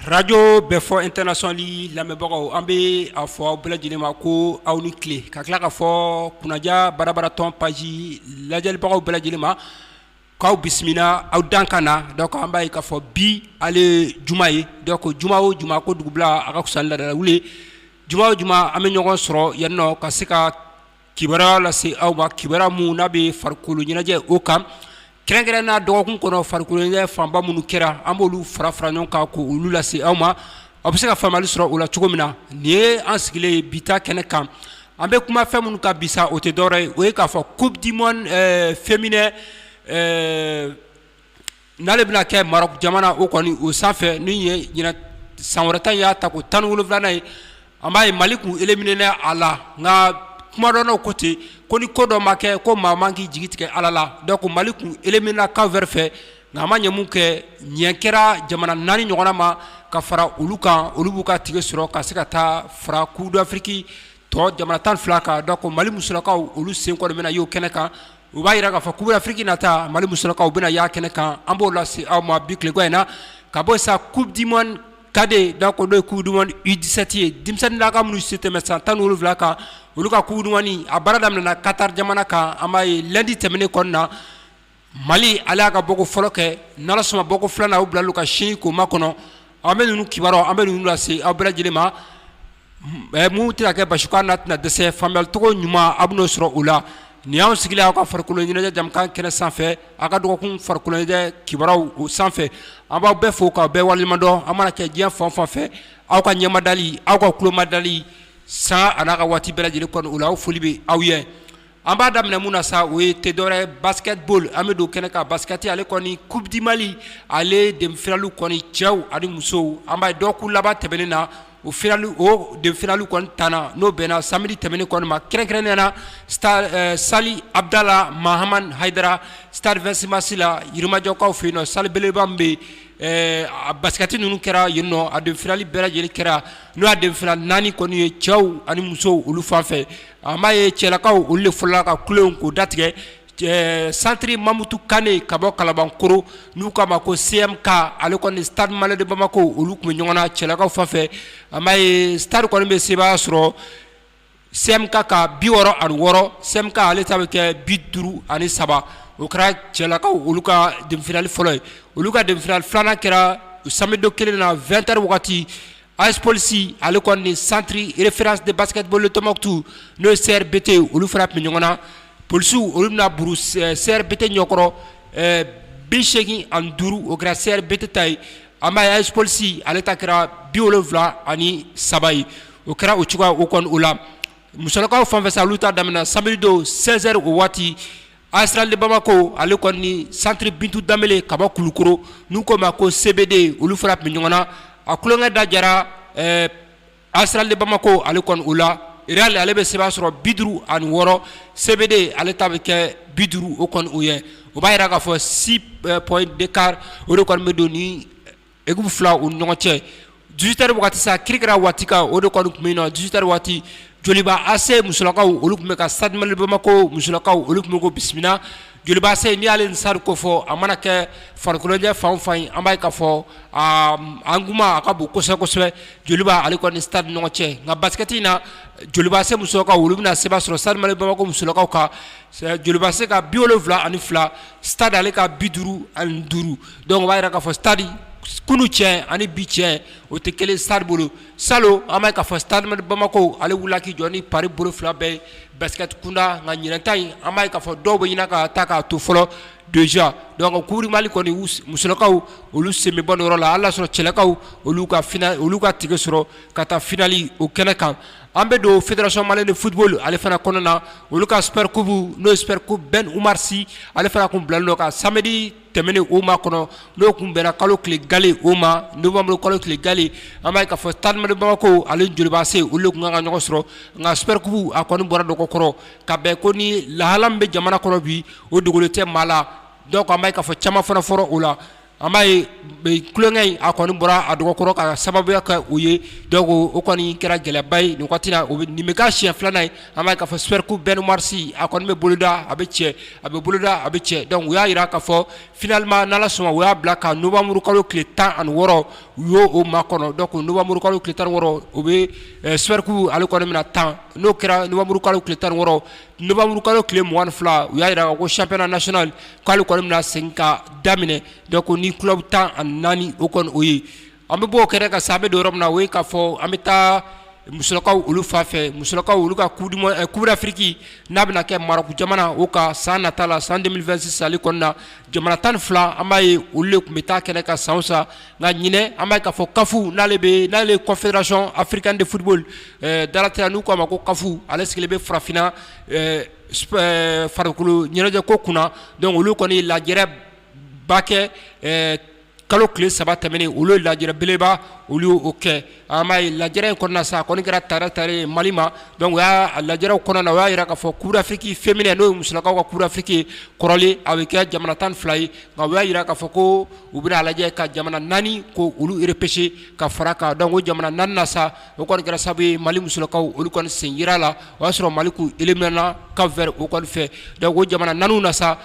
Arajo Bɛfɔ international lamɛnbagaw an bɛ a fɔ aw bɛɛ lajɛlen ma ko aw ni tile ka tila k'a fɔ kunnaja barabara tɔn page lajɛlibagaw bɛɛ lajɛlen ma k'aw bisimila aw dan ka na donc an b'a ye k'a fɔ bi ale juma ye donc juma o juma ko dugu bila a ka fisa ni laada wuli juma o juma an bɛ ɲɔgɔn sɔrɔ yan nɔ ka se ka kibaruya lase aw ma kibaruya min n'a bɛ farikolo ɲɛnajɛ o kan kɛrɛnkɛrɛnnenya dɔgɔkun kɔnɔ farikolo ɲɛnajɛ fanba minnu kɛra an b'olu fara fara ɲɔgɔn kan k'olu lase aw ma aw bɛ se ka faamuyali sɔrɔ o la cogo min na nin ye an sigilen ye bi ta kɛnɛ kan an bɛ kuma fɛn minnu kan bi sa o tɛ dɔwɛrɛ ye o ye k'a fɔ coupe du monde féminin N'ale bɛna kɛ Maroc jamana o kɔni o sanfɛ nin ye ɲinɛ san wɛrɛ ta y'a tako tan ni wolonfilanan ye an b'a ye mali kun éliminéna a la nka kumadɔnnaw ko ten ko ni ko dɔ ma kɛ ko maa man k'i jigi tigɛ ala la donc mali kun éliminéna Cap Vert fɛ nka a ma ɲɛ mun kɛ ɲɛ kɛra jamana naani ɲɔgɔnna ma ka fara olu kan olu b'u ka ticket sɔrɔ ka se ka taa fara coupe d'Afrique tɔ jamana tan fila kan donc mali musolakaw olu sen kɔni bɛna y'o kɛnɛ kan u b'a yira k'a fɔ coupe d'Afrique nata mali musolakaw bɛna y'a kɛnɛ kan an b'o lase aw ma bi tileko in na ka bɔ sa coupe du monde cadet donc n'o ye coupe du monde U17 ye denmisɛnninnakaw minnu si tɛmɛ san tan wolonfila kan olu ka coupe du monde a baara daminɛna Qatar jamana kan an b'a ye lundi tɛmɛnen kɔnɔna na Mali ale y'a ka bɔko fɔlɔ kɛ n'Ala sɔnn'a ma bɔko filanan u bila ka sin k'o makɔnɔ an bɛ ninnu kiba an bɛ ninnu lase aw bɛɛ lajɛlen ma minnu tɛna kɛ basi n'a tɛna dɛsɛ faamuyalicogo ɲuman a bɛn'o sɔrɔ o la nin y'an sigilen aw ka farikolo ɲɛnajɛ jɛmukan kɛnɛ sanfɛ aw ka dɔgɔkun farikolo ɲɛnajɛ kibaruyaw o sanfɛ an b'aw bɛɛ fo k'aw bɛɛ waleɲumandɔn an mana kɛ diɲɛ fan o fan fɛ aw ka ɲɛmadali aw ka kulomadali san a n'a ka waati bɛɛ lajɛlen kɔnɔ o la aw foli bɛ aw ye An b'a daminɛ mun na sa o ye tɛ dɔwɛrɛ ye basket ball an bɛ don kɛnɛ kan basket ale kɔni coupe du Mali ale demi finale kɔni cɛw ani musow an b'a ye dɔgɔkun laban tɛmɛnen na o finale o demi finale kɔni tanna n'o bɛnna samedi tɛmɛnen kɔni ma kɛrɛnkɛrɛnnenya la stade salle Abudala Mahamani Hayidara stade 26 mars la yirimajɔkaw fɛ yen nɔ salle belebeleba min bɛ yen a basket ninnu kɛra yen nɔ a demi finale bɛɛ lajɛlen kɛra n'o y'a demi finale naani kɔni ye cɛw ani musow olu fan fɛ an b'a ye cɛlakaw olu le fɔlɔla ka kulonko datigɛ centre Mamutu Kane ka bɔ Kalabankoro n'u k'a ma ko CMK ale kɔni stade malien de Bamako olu tun bɛ ɲɔgɔn na cɛlakaw fan fɛ an b'a ye stade kɔni bɛ sebaaya sɔrɔ CMK kan 66, CMK ale ta bɛ kɛ 53 o kɛra cɛlakaw olu ka demi finale fɔlɔ ye, olu ka demi finale filanan kɛra samedi don kelen in na 20 heures wagati, AS Police ale kɔni ni Centre référence de basketball de Tombouctou n'o ye CRBT ye, olu fana tun bɛ ɲɔgɔn na, Polisiw olu bɛna buru CRBT ɲɛkɔrɔ 85 o kɛra CRBT ta ye. An b'a ye AS Police ale ta kɛra 73 ye o kɛra o cogoya o kɔni o la musolakaw fan fɛ sa olu ta daminɛna samedi don 16 heures o waati AS Réal de Bamako ale kɔni ni centre Bintu Danbele ka bɔ Kulukoro n'u k'o ma ko CBD olu fana tun bɛ ɲɔgɔn na a tulonkɛ da jara ɛɛ AS Réal de Bamakɔ ale kɔni o la Réal ale bɛ sebaaya sɔrɔ bi duuru ani wɔɔrɔ CBD ale ta bɛ kɛ bi duuru o kɔni o ye o b'a jira k'a fɔ six points d'écart o de kɔni bɛ don nin équipe fila u ɲɔgɔn cɛ dix-huit heures waati sa kirikira waati kan o de kɔni tun bɛnna dix-huit heures waati Joliba AC musolakaw olu tun bɛ ka Stade Malien de Bamakɔ musolakaw olu tun bɛ k'o bisimila Joliba AC n'i y'ale ni Stade ko fɔ a mana kɛ farikolo ɲɛnajɛ fan o fan ye an b'a ye k'a fɔ engouement a ka bon kosɛbɛ kosɛbɛ Joliba ale ni Stade ni ɲɔgɔn cɛ nka basket in na Joliba AC musolakaw olu bɛna sebaaya sɔrɔ Stade Malien de Bamakɔ musolakaw kan Joliba AC ka bi wolonwula ani fila Stade ale ka bi duuru ani duuru donc o b'a jira k'a fɔ Stade kunun cɛ ani bi cɛ o tɛ kelen Stade bolo salon an b'a ye k'a fɔ Stade Malien de Bamakɔ ale wulila k'i jɔ ni pari bolo fila bɛɛ ye Basket kunda nka ɲinɛn ta in an b'a ye k'a fɔ dɔw bɛ ɲina ka taa k'a to fɔlɔ déjà donc Coupe du Mali kɔni musolakaw olu sen bɛ bɔ nin yɔrɔ la hali n'a y'a sɔrɔ cɛlakaw olu ka final olu ka ticket sɔrɔ ka taa final o kɛnɛ kan an bɛ don fédération malienne de football ale fana kɔnɔna olu ka super coupe n'o ye super coupe Ben Oumar Sy ale fana tun bilalen don ka samedi tɛmɛnen o makɔnɔ n'o tun bɛnna kalo tile gale o ma novembre kalo tile gale an b'a ye k'a fɔ Stade Malien de Bamako ale Joliba AC olu de tun kan ka ɲɔgɔn sɔrɔ nka Super Coupe a kɔni bɔra dɔgɔ kɔrɔ ka bɛn ko ni lahala min bɛ jamana kɔnɔ bi o dogolen tɛ maa la donc an b'a ye k'a fɔ caman fana fɔra o la an b'a ye tulonkɛ in a kɔni bɔra a dɔgɔ kɔrɔ ka sababuya kɛ o ye donc o kɔni kɛra gɛlɛyaba ye nin wagati la nin bɛ k'a siɲɛ filanan ye An b'a ye k'a fɔ Super Coupe Ben Oumar Sy a kɔni bɛ boloda a bɛ cɛn a bɛ boloda a bɛ cɛn donc u y'a jira k'a fɔ finalement n'Ala sɔnna u y'a bila ka novembre kalo tile 16 u y'o o makɔnɔ donc novembre kalo tile 16 o bɛ ɛ Super Coupe ale kɔni bɛna tan n'o kɛra novembre kalo tile 16 novembre kalo tile 22 u y'a jira k'a fɔ ko championnat national k'ale kɔni bɛna segin ka daminɛ donc ni club 14 o kɔni o ye An bɛ bɔ o kɛnɛ kan sa an bɛ don yɔrɔ min na o ye k'a fɔ an bɛ taa musolakaw olu fan fɛ musolakaw olu ka Coupe d'Afrique n'a bɛna kɛ Maroc jamana o kan san nata la san 2026 ale kɔnɔna na jamana tan ni fila an b'a ye olu de tun bɛ taa kɛnɛ kan san o san nka ɲinɛn an b'a ye k'a fɔ CAF n'ale bɛ n'ale Confédération africaine de football dalateliya n'u k'a ma ko CAF ale sigilen bɛ farafinna farikolo ɲɛnajɛ ko kunna donc olu kɔni lajɛrɛ ba kɛ kalo tile saba tɛmɛnen olu ye lajɛrɛ beleba olu y'o kɛ an b'a ye lajɛrɛ in kɔnɔna sa a kɔni kɛra tare ta ye mali ma donc o y'a lajɛrɛw kɔnɔna na o y'a jira k'a fɔ coupe d'Afrique féminin n'o ye musolakaw ka coupe d'Afrique kɔrɔlen a bɛ kɛ jamana tan ni fila ye nka o y'a jira k'a fɔ ko u bɛna a lajɛ ka jamana naani ko olu repêcher ka fara kan donc o jamana naani na sa o kɔni kɛra sababu ye mali musolakaw olu kɔni sen yera a la o y'a sɔrɔ mali k'u éliminer Cap Vert o kɔni fɛ donc o jamana naani na sa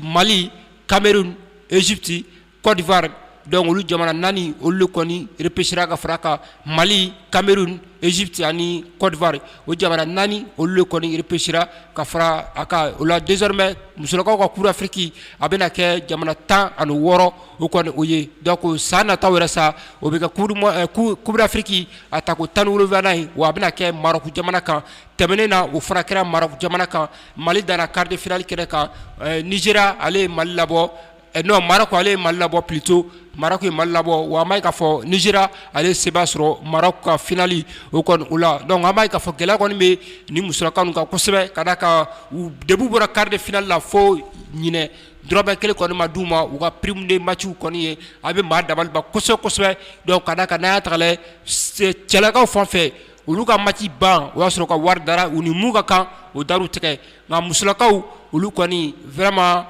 mali Cameroun, Egypte, Cote d'Ivoire donc olu jamana naani olu de kɔni repechera ka fara kan Mali, Cameroun, Egypte ani Cote d'Ivoire o jamana naani olu de kɔni repechera ka fara a kan o la desormais musolakaw ka coupe d'Afrique a bɛna kɛ jamana tan ani wɔɔrɔ o kɔni o ye donc san nataw yɛrɛ sa o bɛ kɛ coupe d'Afrique a tako tan ni wolonwulanan ye wa a bɛna kɛ Maroc jamana kan tɛmɛnen na o fana kɛra Maroc jamana kan Mali danna quart de finale kɛnɛ kan ɛɛ Nigeria ale ye Mali labɔ ɛ non Maroc ale ye Mali labɔ plutot Maroc ye Mali labɔ wa an b'a ye k'a fɔ Nigeria ale ye seba sɔrɔ Maroc ka finale o kɔni o la donc an b'a ye k'a fɔ gɛlɛya kɔni bɛ nin musolaka ninnu kan kosɛbɛ ka d'a kan u depuis u bɔra quart de finale la fo ɲinɛ dɔrɔmɛ kelen kɔni ma d'u ma u ka prime de matchw kɔni ye a bɛ maa dabaliban kosɛbɛ kosɛbɛ donc ka d'a kan n'an y'a ta k'a lajɛ cɛlakaw fan fɛ olu ka match ban o y'a sɔrɔ ka wari dara u ni mun ka kan o dar'u tigɛ nka musolakaw olu kɔni vraiment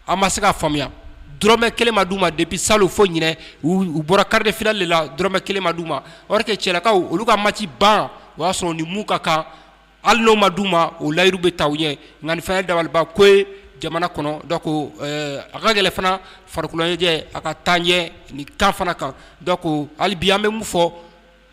an ma se k'a faamuya dɔrɔmɛ kelen ma d'u ma depuis salon fo ɲinɛ u bɔra quart de finale de la dɔrɔmɛ kelen ma d'u ma or que cɛlakaw olu ka match ban o y'a sɔrɔ u ni mun ka kan hali n'o ma d'u ma o layiru bɛ ta u ye nka nin fana ye dabaliban ko ye jamana kɔnɔ donc a ka gɛlɛn fana farikoloɲɛnajɛ a ka taa ɲɛ nin kan fana kan donc hali bi an bɛ mun fɔ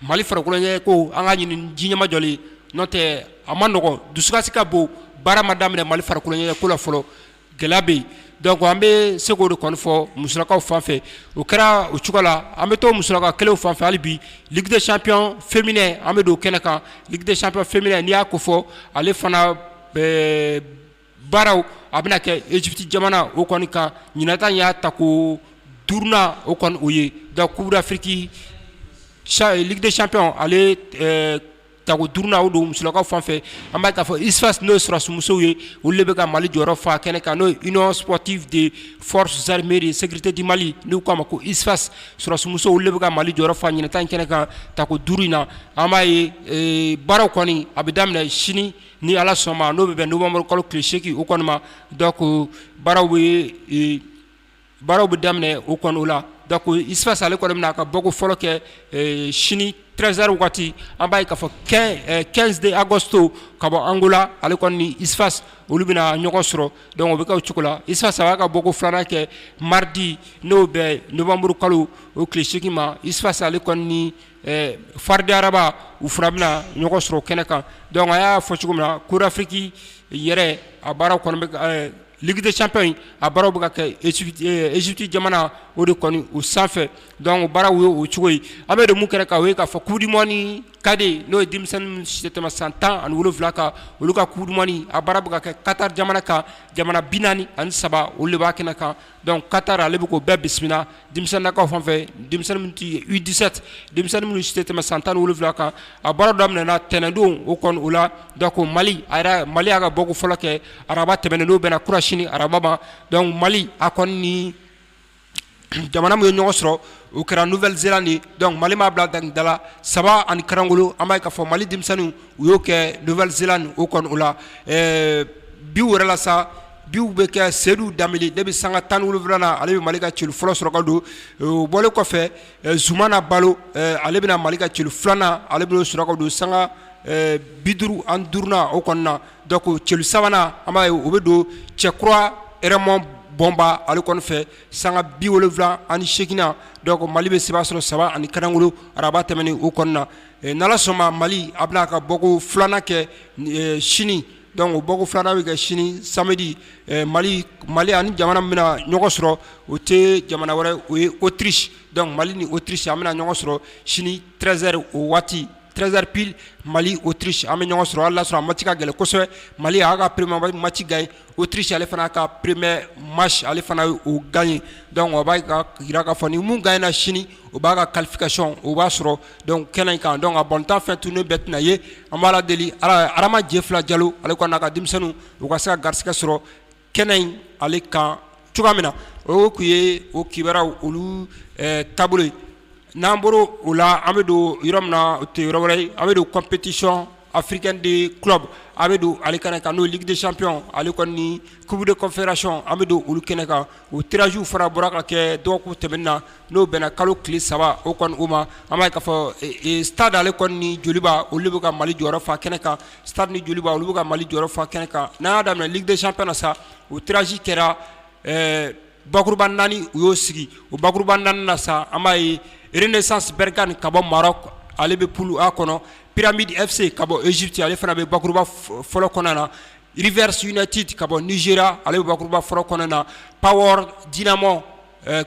Mali farikolo ɲɛnajɛ ko an ka ɲini ji ɲamamajɔlen n'o tɛ a ma nɔgɔn dusukasi ka bon baara ma daminɛ mali farikolo ɲɛnajɛ ko la fɔlɔ gɛlɛya bɛ yen donc an bɛ se k'o de kɔni fɔ musolakaw fan fɛ o kɛra o cogo la an bɛ to musolaka kelenw fan fɛ hali bi ligue des champions féminin an bɛ don kɛnɛ kan ligue des champions féminin n'i y'a kofɔ ale fana baaraw a bɛna kɛ Egypte jamana o kɔni kan ɲinan ta in y'a tako duurunan o kɔni o ye donc coupe d'Afrique ligue des champions ale tako duurunan o don musolakaw fan fɛ an b'a ye k'a fɔ USFAS n'o ye sɔrɔdasi musow ye olu de bɛ ka Mali jɔyɔrɔ fa kɛnɛ kan n'o ye union sportive des forces armées de sécurité du Mali n'u k'a ma ko USFAS sɔrɔdasi musow olu de bɛ ka Mali jɔyɔrɔ fa ɲinan ta in kɛnɛ kan tako duuru in na an b'a ye baaraw kɔni a bɛ daminɛ sini ni ala sɔnna n'o bɛ bɛn novanburu kalo tile segin o kɔni ma donc baaraw baaraw bɛ daminɛ o kɔni o la donc USFAS ale kɔni bɛna a ka bɔko fɔlɔ kɛ sini treize heures waati an b'a ye k'a fɔ quinze de Agosto ka bɔ Angola ale kɔni ni USFAS olu bɛna ɲɔgɔn sɔrɔ donc o bɛ kɛ o cogo la USFAS a b'a ka bɔko filanan kɛ mardi n'o bɛ novanburu kalo o tile segin ma USFAS ale kɔni FAR de Rabat u fana bɛna ɲɔgɔn sɔrɔ kɛnɛ kan donc an y'a fɔ cogo min na coupe d'Afrique yɛrɛ a baaraw kɔni ligue des champions a baaraw bɛ ka kɛ Égypte jamana o de kɔni o sanfɛ donc o baaraw ye o cogo ye an bɛ don min kɛnɛ kan o ye k'a fɔ coupe du monde cadet n'o ye denmisɛnnin minnu si tɛ tɛmɛ san tan ani wolonwula kan olu ka coupe du monde a baara bɛ ka kɛ Qatar jamana kan jamana bi naani ani saba olu de b'a kɛnɛ kan donc Qatar ale bɛ k'o bɛɛ bisimila denmisɛnninnakaw fan fɛ denmisɛnnin minnu tɛ U dix-sept denmisɛnnin minnu si tɛ tɛmɛ san tan ni wolonwula kan a baara daminɛna tɛnɛndon o kɔni o la donc mali a mali y'a ka bɔko fɔlɔ kɛ araba tɛmɛnen n'o bɛnna kunasini araba ma donc mali a kɔni ni jamana min ye ɲɔgɔn sɔrɔ o kɛra Nouvelle-Zélande donc mali m'a bila da da la saba ani kalankolon an b'a ye k'a fɔ mali denmisɛnninw u y'o kɛ Nouvelle-Zélande o kɔni o la biw yɛrɛ la sa biw bɛ kɛ seyidu danbele de bɛ sanga tan ni wolonwula na ale bɛ mali ka celu fɔlɔ sɔrɔ ka don o bɔlen kɔfɛ zumana balo ale bɛna mali ka celu filanan ale bɛ o sɔrɔ ka don sanga bi duuru ani duuru na o kɔnɔna na donc celu sabanan an b'a ye o bɛ don cɛkura Raymond bɔnba ale kɔni fɛ sanga bi wolonwula ani segin na donc mali bɛ seba sɔrɔ saba ani kalankolon araba tɛmɛnen o kɔnɔna na n'ala sɔnna mali a bɛna a ka bɔko filanan kɛ sini donc o bɔko filanan bɛ kɛ sini samedi mali mali ani jamana bɛna ɲɔgɔn sɔrɔ o tɛ jamana wɛrɛ o ye Autriche donc mali ni Autriche an bɛna ɲɔgɔn sɔrɔ sini treize heures o waati treize heures pile mali Autriche an bɛ ɲɔgɔn sɔrɔ a lasɔrɔ a match ka gɛlɛn kosɛbɛ mali y'a ka premier match gagné Autriche ale fana ka premier match ale fana ye o gagné donc o b'a jira k'a fɔ ni min gagnéna sini o b'a ka qualification o b'a sɔrɔ donc kɛnɛ in kan donc a bɔnta fɛ tun ne bɛ tɛna ye an b'ala deli adama jɛfila jalo ale kɔni n'a ka denmisɛnninw u ka se ka garisɛgɛ sɔrɔ kɛnɛ in ale kan cogoya min na o tun ye o kibaruyaw olu taabolo ye n'an bɔra o la an bɛ don yɔrɔ min na o tɛ yɔrɔ wɛrɛ ye an bɛ don compétition africaine de club a bɛ don ale kɛnɛ kan n'o ye ligue des champions ale kɔni ni coupe de confédération an bɛ don olu kɛnɛ kan o tirage fana bɔra ka kɛ dɔgɔkun tɛmɛnen na n'o bɛnna kalo tile saba o kɔni o ma an b'a ye k'a fɔ stade ale kɔni ni Joliba olu de bɛ ka Mali jɔyɔrɔ fa kɛnɛ kan stade ni Joliba olu bɛ ka Mali jɔyɔrɔ fa kɛnɛ kan n'an y'a daminɛ ligue des champions na sa o tirage kɛra ɛɛ Bakuruba naani u y'o sigi o bakuruba naani na sa an b'a ye Renaissance Berkane ka bɔ Maroc ale bɛ poule A kɔnɔ Pyramids FC ka bɔ Egypte ale fana bɛ bakuruba fɔlɔ kɔnɔna na Rivers United ka bɔ Nigeria ale bɛ bakuruba fɔlɔ kɔnɔna na Power Dynamos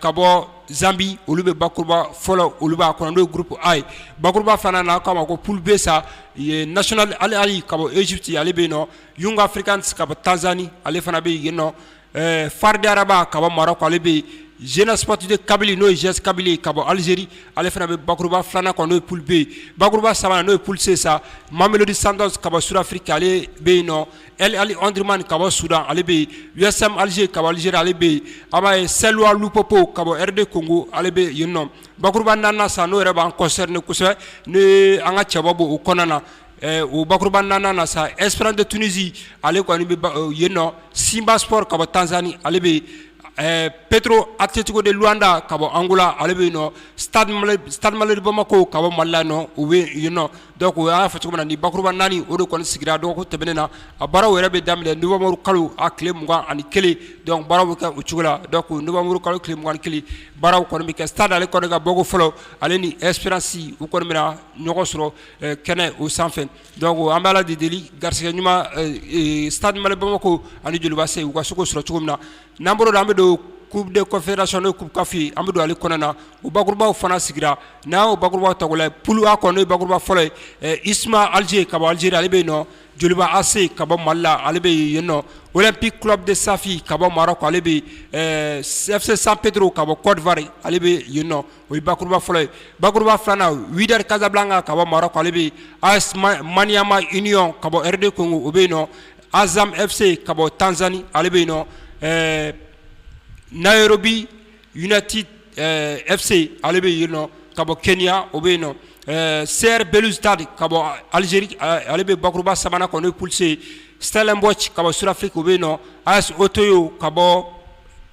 ka bɔ Zambie olu bɛ bakuruba fɔlɔ olu b'a kɔnɔ n'o ye groupe A ye bakuruba filanan k'a ma ko poule B sa National Al Ahly ka bɔ Egypte ale bɛ yen nɔ Young Africans ka bɔ Tanzanie ale fana bɛ yen nɔ Ɛɛ fari araba ka bɔ mara ale bɛ yen zeinasipti kabili n'o zs kabili ka bɔ alizeri ale fana bɛ bakuruba filanan kɔnɔ n'o ppibe bakuruba saba n'o pse sa mamelodi san ka bɔ sufiri ale bɛ yen nɔ ali anrma ka bɔ suda ale bɛ yen us alize ka alize ale bɛ yen a b'a ye seluwappo ka bɔ de kogo ale bɛ yen nɔ bakuruba na sa n'o yɛrɛ b'an kɔsɔri ni kosɛbɛ n' an ka cɛbɔ bɔ u kɔnɔna na O bakuruba naaninan na sa Espérance de Tunisie ale kɔni bɛ yen nɔ Simba Sport ka bɔ Tanzanie ale bɛ yen Petro Atlético de Luanda ka bɔ Angola ale bɛ yen Stade Malien de Bamako ka bɔ Mali la nɔ o bɛ yen nɔ donc o y'a fɔ cogo min na ni bakuruba naani o de kɔni sigira dɔgɔkun tɛmɛnen na a baaraw yɛrɛ bɛ daminɛ novembre kalo a tile mugan ani kelen donc baara bɛ kɛ o cogo la donc novembre kalo tile mugan ni kelen baaraw kɔni bɛ kɛ Stade ale kɔni ka bɔko fɔlɔ ale ni Espérance u kɔni bɛna ɲɔgɔn sɔrɔ Kɛnɛ o sanfɛ don an b'a de deli garisɛgɛ ɲuman sa mali bama ko ani jeliba se u ka sogo sɔrɔ cogo min na n'an bolo don an bɛ don kuruurden kɔfɛra sɔn k'u kafi an bɛ don ale kɔnɔna na u bakɔrɔbabaww fana sigira n'a bakɔrɔbaba ta pwa kɔnɔ bakɔrɔba fɔlɔ ye i suma aliz ka bɔ alize ale bɛ yen nɔ jeliba ase ka bɔ mali la ale bɛ yen nɔ o bi kula de safi ka bɔ mara ale bɛ sɛ san pete ka bɔ kɔɔriwa ale bɛ yen nɔ O ye bakuruba fɔlɔ ye bakuruba filanan Wydad Casablanca ka bɔ Maroc ale bɛ AS Maniema Union ka bɔ RD Congo o bɛ yen nɔ Azam FC ka bɔ Tanzanie ale bɛ yen nɔ ɛɛ Nairobi United FC ale bɛ yen nɔ ka bɔ Kenya o bɛ yen nɔ ɛɛ CR Belouizdad ka bɔ Algérie ale bɛ bakuruba sabanan kɔnɔ n'o ye poule C Stellenbosch ka bɔ Sud-Afrique o bɛ yen nɔ AS Otoho ka bɔ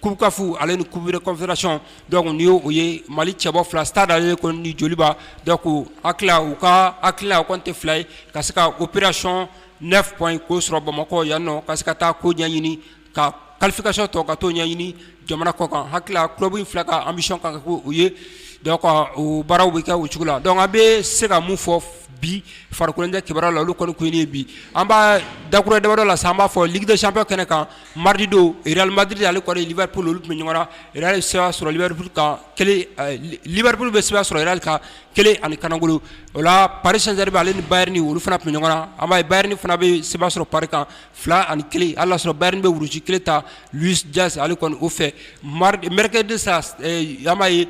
Kukafu ale ni kubere kɔnfɛracɔn dɔnku tun y ye o ye mali cɛbɔ fila sada ale kɔni ni joliba da ko ha u ka ha a kɔn tɛ fila ye ka se ka u ppereracɔn ne fɔ in ko sɔrɔ bamakɔ yan nɔ ka se ka taa ko ɲɛɲini ka kalifafikasɔn tɔ ka tɔw ɲɛɲini jamana kɔ kan hakili tulo in fila ka anmisi kan ko u ye u baaraw bɛ kɛ u cogo la dɔnku bɛ se ka mun fɔ bi farikolokɛ kiba la olu kɔni ye bi an b'a dakura dama la san b'a fɔ did sanfɛ kɛnɛ kan Mariridi madrid ale kɔnili bɛ bolo olu tun ɲɔgɔn ye seba sɔrɔlibri kan libririuru bɛ seba sɔrɔli kan kelen ani kanagolo o la parisre ale ni ba ni olu fana tun ɲɔgɔn a ma ba ni fana bɛ seba sɔrɔ pari kan fila ani kelen ala sɔrɔ bain bɛ wulusi kelen ta jase ale kɔni o fɛ mari mkɛ de sa a ye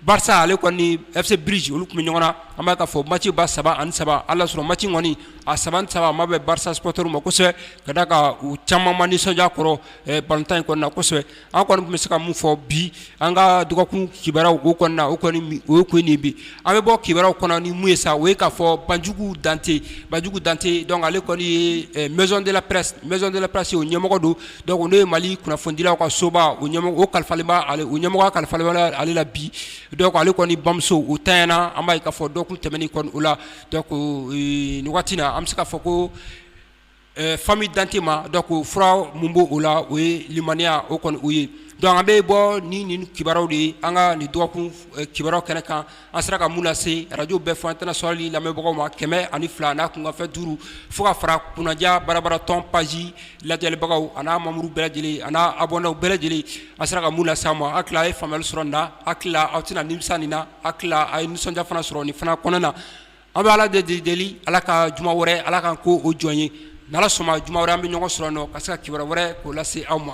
Barça ale kɔni ni FC Bruges olu tun bɛ ɲɔgɔn na, an b'a ye k'a fɔ match ba saba ani saba, hali n'a sɔrɔ match in kɔni a saba ni saba a ma bɛn Barça supporters ma kosɛbɛ ka d'a kan u caman ma nisɔndiya a kɔrɔ ballon-tan in kɔnɔna na kosɛbɛ, an kɔni tun bɛ se ka min fɔ bi an ka dɔgɔkun kibaruyaw o kɔnɔna na o kun ye nin ye bi, an bɛ bɔ kibaruyaw kɔnɔ ni min ye sa o ye k'a fɔ Banjugu Dante, Banjugu Dante donc ale kɔni ye maison de la presse, maison de la presse o ɲɛmɔgɔ don Donc n'o ye Mali kunnafonidilaw ka soba o ɲɛmɔgɔ o kalifalen bɛ ale o ɲɛmɔgɔya kalifalen bɛ ale la bi donc ale kɔni bamuso o tanyana an b'a ye k'a fɔ dɔgɔkun tɛmɛnen kɔni o la donc nin waati na an bɛ se k'a fɔ ko famille Dante ma donc fura min b'o la o ye limaniya o kɔni o ye donc an bɛ bɔ ni nin kibaruyaw de ye an ka nin dɔgɔkun kibaruyaw kɛnɛ kan an sera ka mun lase radio bɛɛ fɔ international lamɛnbagaw ma 102 n'a kunkanfɛn 5 fo ka fara kunnaja barabara tɔn page lajɛlibagaw a n'a membres bɛɛ lajɛlen a n'a abonnés bɛɛ lajɛlen an sera ka mun lase aw ma an hakili a ye faamuyali sɔrɔ nin na an hakili aw tɛna nimisa nin na an hakili a ye nisɔndiya fana sɔrɔ nin fana kɔnɔna na an bɛ Ala de deli Ala ka juma wɛrɛ Ala k'an k'o jɔn ye n'Ala sɔnna juma wɛrɛ an bɛ ɲɔgɔn sɔrɔ yan nɔ ka se ka kibaruya wɛrɛ k'o lase aw ma.